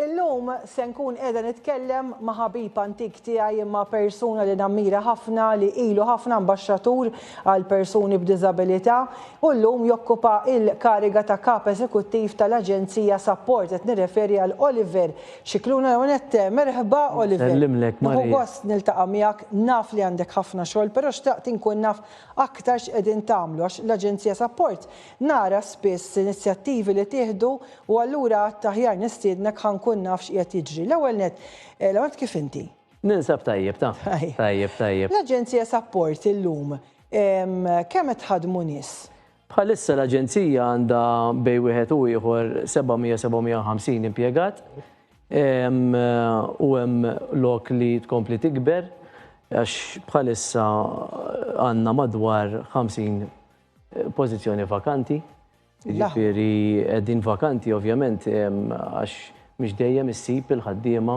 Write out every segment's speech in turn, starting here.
Illum se nkun qiegħda nitkellem ma' ħabib antik tiegħi imma persuna li nammira ħafna li ilu ħafna ambaxxatur għal persuni b'diżabilità u llum jokkupa il-kariga ta' Kap Eżekuttiv tal-Aġenzija Sapport qed nirreferi għal Oliver Scicluna Leonette. Merħba Oliver. Nsellimlek Maria. Nieħu gost niltaqa' miegħek, naf li għandek ħafna xogħol però xtaqt inkun naf aktar x'qegħdin tagħmlu għax l-Aġenzija Sapport Nara spiss inizjattivi li tieħdu u allura għadt aħjar nistiednek ħa nkun naf x'qiegħed jiġri. L-ewwel nett, l-ewwel nett kif inti? Ninsab tajjeb taf. Tajjeb, tajjeb. L-Aġenzija Sapport illum kemm qed tħaddmu nies? Bħalissa l-Aġenzija għandha bejn wieħed u ieħor 700, 750 impjegat u hemm lok li tkompli tikber għax bħalissa għandna madwar 50 Pożizzjoni vakanti, jiġifieri qegħdin vakanti ovvjament għax mhux dejjem issib il-ħaddiema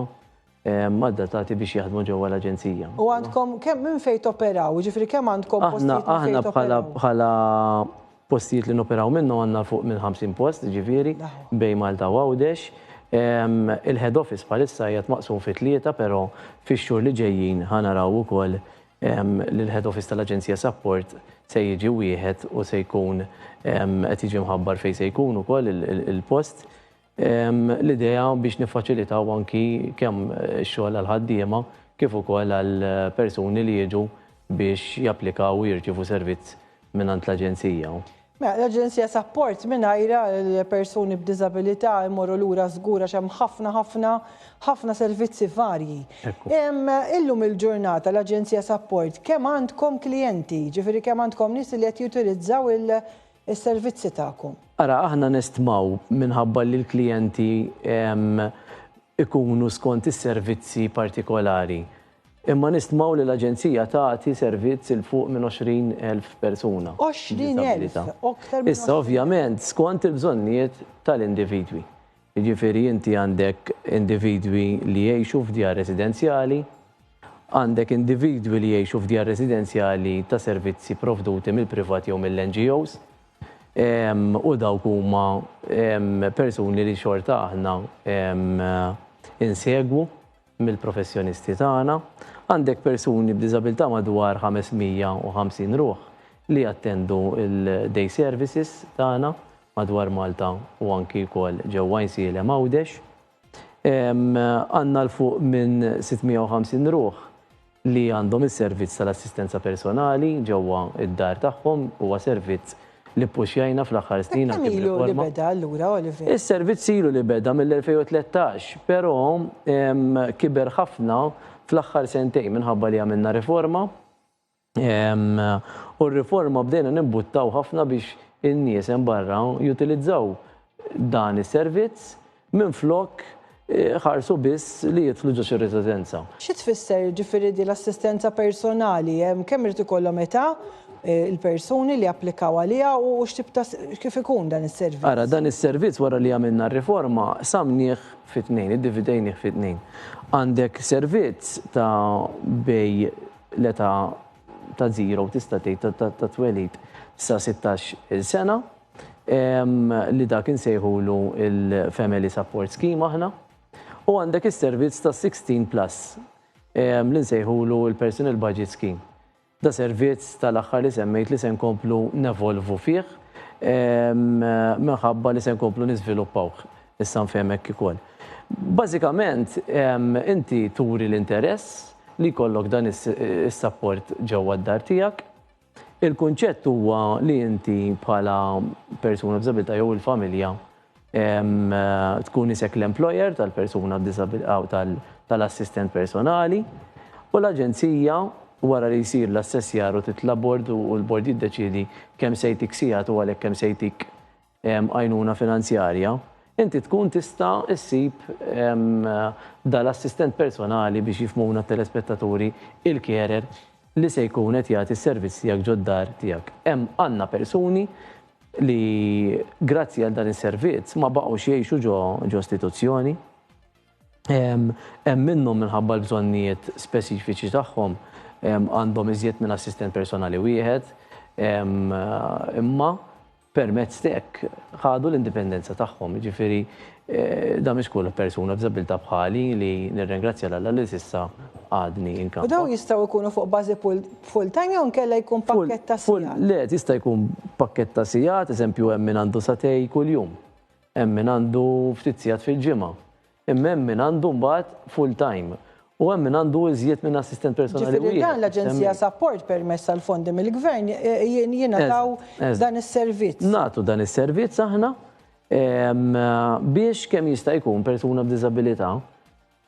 adattati biex jaħdmu ġewwa l-Aġenzija. U għandkom kemm minn fejn toperaw, jiġifieri kemm għandkom postijiet minn fejn toperaw? Aħna bħala postijiet li noperaw minnhom għandna fuq minn 50 post, jiġifieri bejn Malta u Għawdex. Il-head office bħalissa qiegħed maqsum fi tlieta, però fix-xhur li ġejjin ħa naraw ukoll li l-Head Office tal-Aġenzija Sapport se jiġi wieħed u se jkun qed jiġi mħabbar fejn se jkun ukoll il-post. L-idea biex niffaċilitaw anki kemm ix-xogħol għall-ħaddiema kif ukoll għall-persuni li jiġu biex japplikaw u jirċievu servizz mingħand l-Aġenzija u. Mela, l-Aġenzija sapport mingħajrha l-persuni b'diżabilità jmorru lura żgur għax hemm ħafna ħafna ħafna servizzi varji. Illum il-ġurnata l-Aġenzija sapport kemm għandkom klijenti, jiġifieri kemm għandkom nies li qed jutilizzaw is-servizzi tagħkom? Ara, aħna nestmaw minħabba li l-klijenti ikunu skont is-servizzi partikolari. Imma nistmaw li l-Aġenzija tagħti servizz 'il fuq minn 20,000 persuna. 20,000! Aktar minn 20,000! Issa ovvjament skont il-bżonnijiet tal-individwi. Jiġifieri inti għandek individwi li jgħixu f'djar residenzjali, għandek individwi li jgħixu f'djar residenzjali ta' servizzi pprovduti mill-privat jew mill-NGOs, u dawk huma persuni li xorta aħna insegwu mill-professjonisti tagħna, għandek persuni b'diżabilità madwar 550 ruħ li jattendu l-day services tagħna madwar Malta u anki wkoll ġewwa Għajnsielem Għawdex. Għandna 'l fuq minn 650 ruħ li għandhom is-servizz tal-assistenza personali ġewwa d-dar tagħhom huwa servizz li ppuxjajna fl-aħħar snin anki b'riforma. Kemm ilu li beda allura, Oliver? Is-servizz ilu li beda mill-2013, però kiber ħafna fl-aħħar sentejn minħabba li għamilna riforma u r-riforma bdejna nimbuttaw ħafna biex in-nies hemm barra jutilizzaw dan is-servizz. minflok iħarsu biss li jidħlu ġo xi residenza. Xi tfisser jiġifieri din l-assistenza personali? Kemm irid ikollhom età il-persuni li japplikaw għaliha u x'tip ta' kif ikun dan is-servizz? Ara, dan is-servizz wara li għamilna r-riforma qsamnieh fi tnejn, iddividejnieh fi tnejn. Għandek servizz ta' bejn l-età ta' żero tista' tgħid tat-twelid sa 16-il sena, li dak insejħulu l-Family Support Scheme aħna, u għandek is-servizz ta' 16 plus li nsejħulu l-Personal Budget Scheme. Da servizz tal-aħħar li semmejt li se nkomplu nevolvu fih minħabba li se nkomplu niżviluppawh, issa nfhem hekk ukoll. Bażikament inti turi l-interess li jkollok dan is-sapport ġewwa d-dar tiegħek, Il-kunċett huwa li inti bħala persuna b'diżabilità jew il-familja tkun isek l-employer tal-persuna b'diżabilità u tal-assistent personali u l-Aġenzija wara li jsir l-assessjar u titla' bord u l-bord jiddeċiedi kemm se jtik sigħat u għalhekk kemm se jtik għajnuna finanzjarja, inti tkun tista' ssib da l-assistent personali biex jifhmuna t-telespettaturi, il-carer, li se jkun qed jagħti s-servizz tiegħek ġod-dar tiegħek. Hemm għandna persuni li grazzi għal dan is-servizz ma baqgħux jgħixu ġo istituzzjoni. Hemm minnhom minħabba l-bżonnijiet speċifiċi tagħhom għandhom iżjed minn assistent personali wieħed, imma permezz t'hekk ħadu l-indipendenza tagħhom, jiġifieri dan mhix kull persuna b'diżabbiltà bħali li nirringrazzja 'l Alla li s'issa għadni inkampa. U dawn jistgħu jkunu fuq bażi full-time jew inkella jkun pakkett ta' sigħat? Le, jista' jkun pakkett ta' sigħat, eżempju hemm min għandu sagħtej kuljum, hemm min għandu ftit sigħat fil-ġimgħa, Imma hemm min għandu mbagħad full time u hemm min għandu iżjed minn assistent personali wieħed. Ġifieri dan l-aġenzija support permezz tal-fondi mill-gvern jingħataw dan is-servizz. Nagħtu dan is-servizz aħna biex kemm jista' jkun persuna b'diżabilità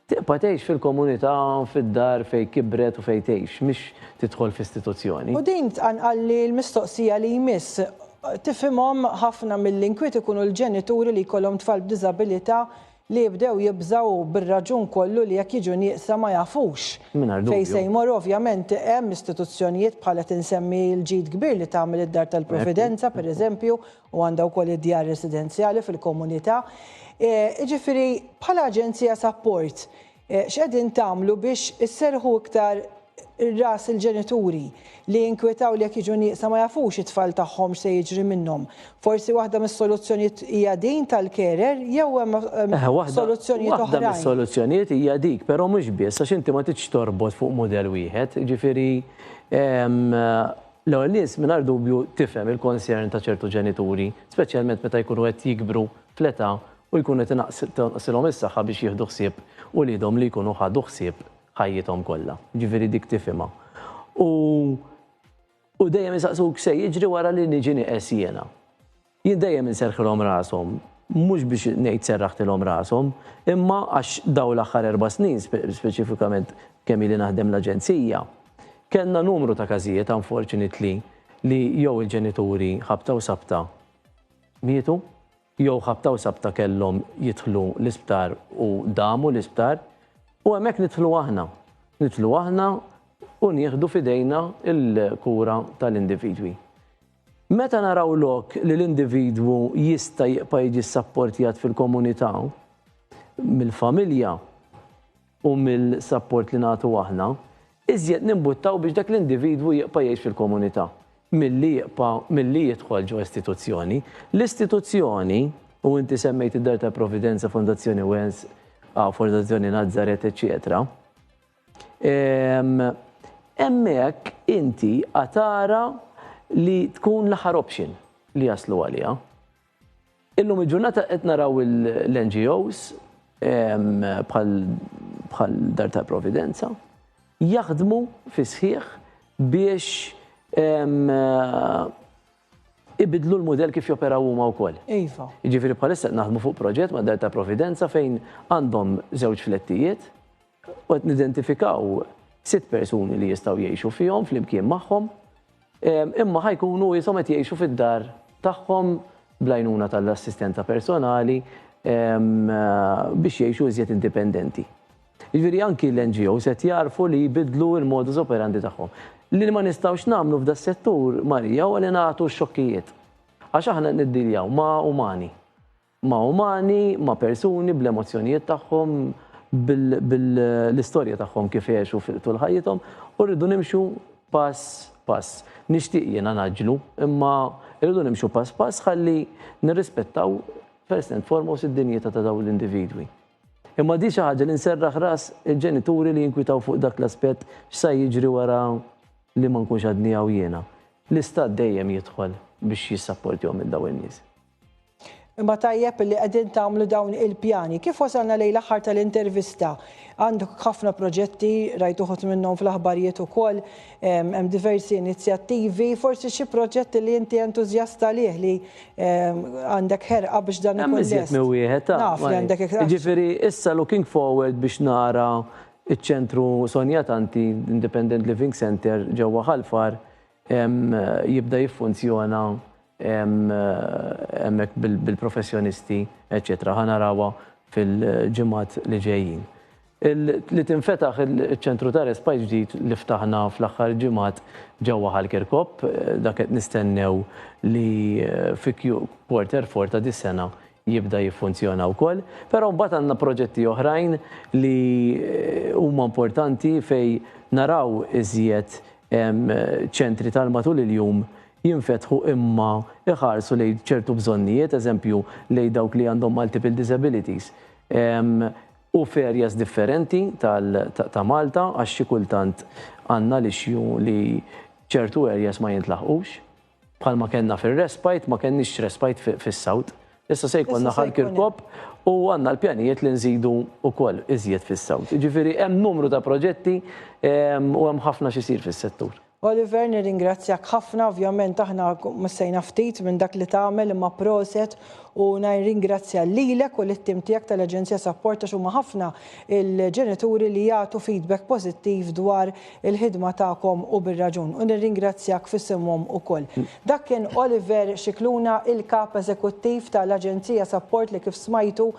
tibqa' tgħix fil-komunità fid-dar fejn kibret u fejn tgħix mhix tidħol f'istituzzjoni. U din tqanqalli l-mistoqsija li jmiss. Tifhimhom ħafna mill-inkwiet ikunu l-ġenituri li jkollhom tfal b'diżabilità li jibdew jibżgħu u bir-raġun kollu li jekk jiġu nieqsa ma jafux fejn se jmorru, ovvjament hemm istituzzjonijiet bħal qed insemmi l-ġid kbir li tagħmel id-Dar tal-Providenza pereżempju u għandha wkoll id-djar residenzjali fil-komunità. Jiġifieri bħala aġenzija sapport, X'qegħdin tagħmlu biex isserrħu iktar ras il-ġenituri li jinkwetaw li jekk jiġu nieqsa ma jafux it-tfal tagħhom x'se jiġri minnhom? Forsi waħda mis-soluzzjonijiet hija din tal-carer jew hemm soluzzjonijiet oħrajn? Waħda mis-soluzzjonijiet hija dik, però mhux biss għax inti ma tridx torbot fuq mudell wieħed. Jiġifieri l-ewwel nies mingħajr dubju tifhem il-concern ta' ċertu ġenituri, speċjalment meta jkunu qed jikbru fl-età u jkun qed tonqosilhom is-saħħa biex jieħdu ħsieb uliedhom li jkunu ħadu ħsieb ħajjithom kollha. Jiġifieri dik tifhimha. U u dejjem isaqsuk x'se jiġri wara li niġi nieqes jiena. Jien dejjem inserrħilhom rashom, mhux biex ngħid serraħtilhom rashom, imma għax dawn l-aħħar erba' snin speċifikament kemm ili naħdem l-aġenzija, kellna numru ta' każijiet unfortunately li jew il-ġenituri ħabta u sabta mietu, jew ħabta u sabta kellhom jidħlu l-isptar u damu l-isptar, u hemmhekk nidħlu aħna. Nidħlu aħna u nieħdu f'idejna l-kura tal-individwi. Meta naraw lok li l-individwu jista' jibqa' jiġi ssapportjat fil-komunità mill-familja, u mill-sapport li nagħtu aħna, iżjed nimbuttaw biex dak l-individwu jibqa' jgħix fil-komunità milli jibqa' milli jidħol ġo istituzzjoni. L-istituzzjoni, u inti semmejt id-Dar tal-Providenza, Fondazzjoni Wells, Fondazzjoni Nazaret, eċċetera, hemmhekk inti għad tara li tkun l-aħħar option li jaslu għaliha. Illum il-ġurnata qed naraw l-NGOs bħal Dar tal-Providenza jaħdmu fis-sħiħ biex ibidlu l-mudell kif joperaw huma wkoll. Iva. Jiġifieri bħalissa qed naħdmu fuq proġett ma' Dar tal-Providenza fejn għandhom żewġ flettijiet u qed nidentifikaw sitt persuni li jistgħu jgħixu fihom flimkien magħhom, imma ħa jkunu ishom qed jgħixu fid-dar tagħhom bl-għajnuna tal-assistenza personali biex jgħixu iżjed indipendenti. Jiġifieri anki l-NGOs qed jagħrfu li jbiddlu l-modus operandi tagħhom. Li ma nistgħux nagħmlu f'da s-settur, Marija, huwa li nagħtu x-xokkijiet. Għax aħna qed niddiljaw ma' umani. ma' umani, ma' persuni bl-emozzjonijiet tagħhom, bil-istorja tagħhom kif għexu tul ħajjithom, u rridu nimxu pass pass. Nixtieq jiena ngħaġġlu, imma rridu nimxu pass pass ħalli nirrispettaw first and foremost id-dinjità ta' dawn l-individwi. Imma di xi ħaġa li nserraħ ras il-ġenituri li jinkwitaw fuq dak l-aspett x'sa jiġri wara li ma nkunx għadni hawn jiena. L-Istat dejjem jidħol biex jissapportjhom lil dawn in-nies. Imma tajjeb li qegħdin tagħmlu dawn il-pjani. Kif wasalna lejn l-aħħar tal-intervista? Għandek ħafna proġetti, rajt uħud minnhom fl-aħbarijiet ukoll, ehm, hemm diversi inizjattivi, forsi xi proġetti li inti entużjast għalih li ehm, għandek ħerqa biex dan ikun lest. Hemm wieħed ta' Naf li għandek iktar. Ġifieri issa looking forward biex nara iċ-ċentru Sonja Tanti Independent Living Center ġewwa Ħalfar jibda jiffunzjona hemmhekk bil-professjonisti, eċċetera. Ħa narawha fil-ġimgħat li ġejjin. Li tinfetaħ iċ-ċentru ta' respite ġdid li ftaħna fl-aħħar ġimgħat ġewwa Ħal Kirkop, dak qed nistennew li fi Q4 ta' dis-sena jibda jiffunzjona wkoll, però mbagħad għandna proġetti oħrajn li huma importanti fejn naraw iżjed ċentri tal-matul il-jum jinfetħu imma jħarsu lejn ċertu bżonnijiet, eżempju lejn dawk li għandhom multiple disabilities u f'areas differenti ta' Malta għax xi kultant għandna l-issue li ċertu areas ma jintlaħqux. Bħalma kellna fir-respite, ma kellniex respite fis-South. Issa se jkollna Ħal Kirkop u għandna l-pjanijiet li nżidu wkoll iżjed fis-South. Jiġifieri hemm numru ta' proġetti ehm, u hemm ħafna x'isir fis-settur. Oliver, nirringrazzjak ħafna, ovvjament aħna missejna ftit minn dak li tagħmel imma proset u nirringrazzja lilek u lit-tim tiegħek tal-Aġenzija Sapport għax huma ħafna il-ġenituri li jagħtu feedback pożittiv dwar il-ħidma tagħkom u bir-raġun, u nirringrazzjak f'isimhom ukoll. Dak kien Oliver Scicluna, il-Kap Eżekuttiv ta' l-Aġenzija Sapport li kif smajtu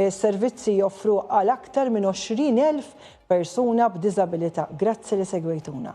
s-servizzi joffruh għal aktar minn 20,000 persuna b'diżabilità. Grazzi li segwejtuna.